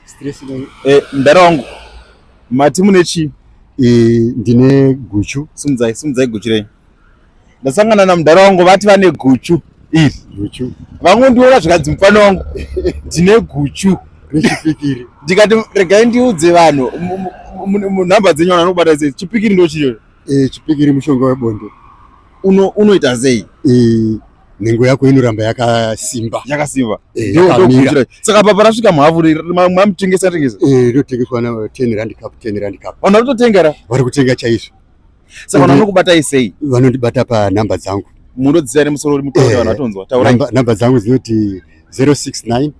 stress no eh mdara wangu mati mune chi eh ndine guchu sumudzai sumudzai guchu renyu ndasangana na mdara wangu vati vane guchu iri guchu vangu ndiona zvikanzi mufana wangu ndine guchu rechipikiri ndikati regai ndiudze vanhu nhamba dzenyu vanhu vanobata sei chipikiri ndochiyo eh chipikiri mushonga webonde uno unoita sei eh, nhengo yako inoramba yakasimba yakasimba eh, ndokuitira saka apa parasvika mhavu mamutengesa tengesa eh, ndotengeswa na 10 rand cup 10 rand cup vanhu vanototenga ra vari kutenga chaizvo saka vanhu vanokubatai sei vanondibata panhamba dzangu munodzisa ere musoro uri mutaure vanhu vatonzwa taura nhamba dzangu dzinoti 069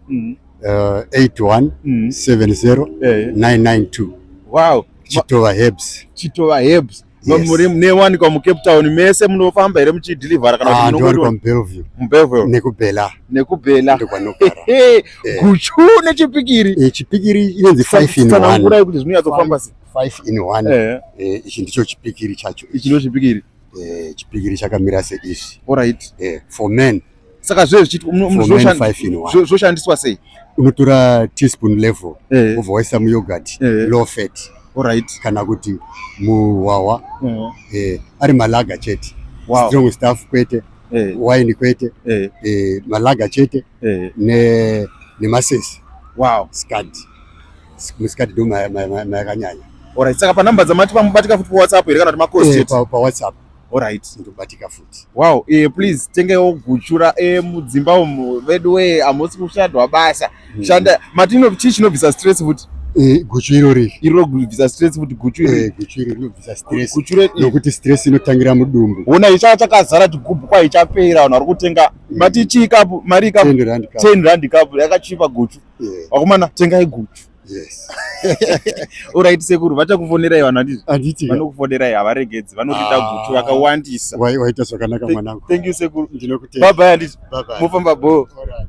81 70 992 wow chitova hebs chitova hebs muri newanikwa mucape town mese munofamba here muchidhilivhara kana ah, ndinowanikwa mubellevue mubellevue nekubela nekubela ndokwanogara eh. guchu nechipikiri eh, chipikiri inonzi five in one tanangurai kuti zvinonyatsofamba sei five in one eh. ichi ndicho chipikiri chacho ichi ndicho chipikiri chipikiri chakamira seizvi alright for men saka zve zvichitizvoshandiswa sei unotora teaspoon level eh. ovawaisa muyogurt eh. low fat right. kana kuti muhwahwa mm. eh, ari malaga chete wow. strong staff kwete eh. wine kwete eh. Eh, malaga chete eh. ne, nemasesi wow. scad muscad ndo mayakanyanya ma, ma, ma, right. saka panumber dzamati pamubatika futi pawhatsapp here kana kuti macost eh, pawhatsapp pa Alright, ndobatika futi. Wow, eh please tengewo guchura eh mudzimba umu vedu we amusi kushadwa basa. Mm. Shanda matino chii chinobvisa stress futi? Eh guchu iro ri. Iro kubvisa stress futi guchu iro. Eh guchu iro rinobvisa stress. Guchu iro nokuti stress inotangira mudumbu. Wona icha chakazara chigubhu kwa ichapera vanhu vari kutenga mm. mati chii kapu mari kapu 10 rand kapu yakachipa guchu. Yeah. Wakumana tengai guchu. Yes. Alright sekuru vachakufonerai vanhu handiti? Handiti. Vanokufonerai havaregedzi vanokuita ah. gutu vakawandisa. Waita zvakanaka mwanangu. Thank you sekuru. Ndinokutenda. Bye bye handiti? Bye bye. Mofamba bho. Alright.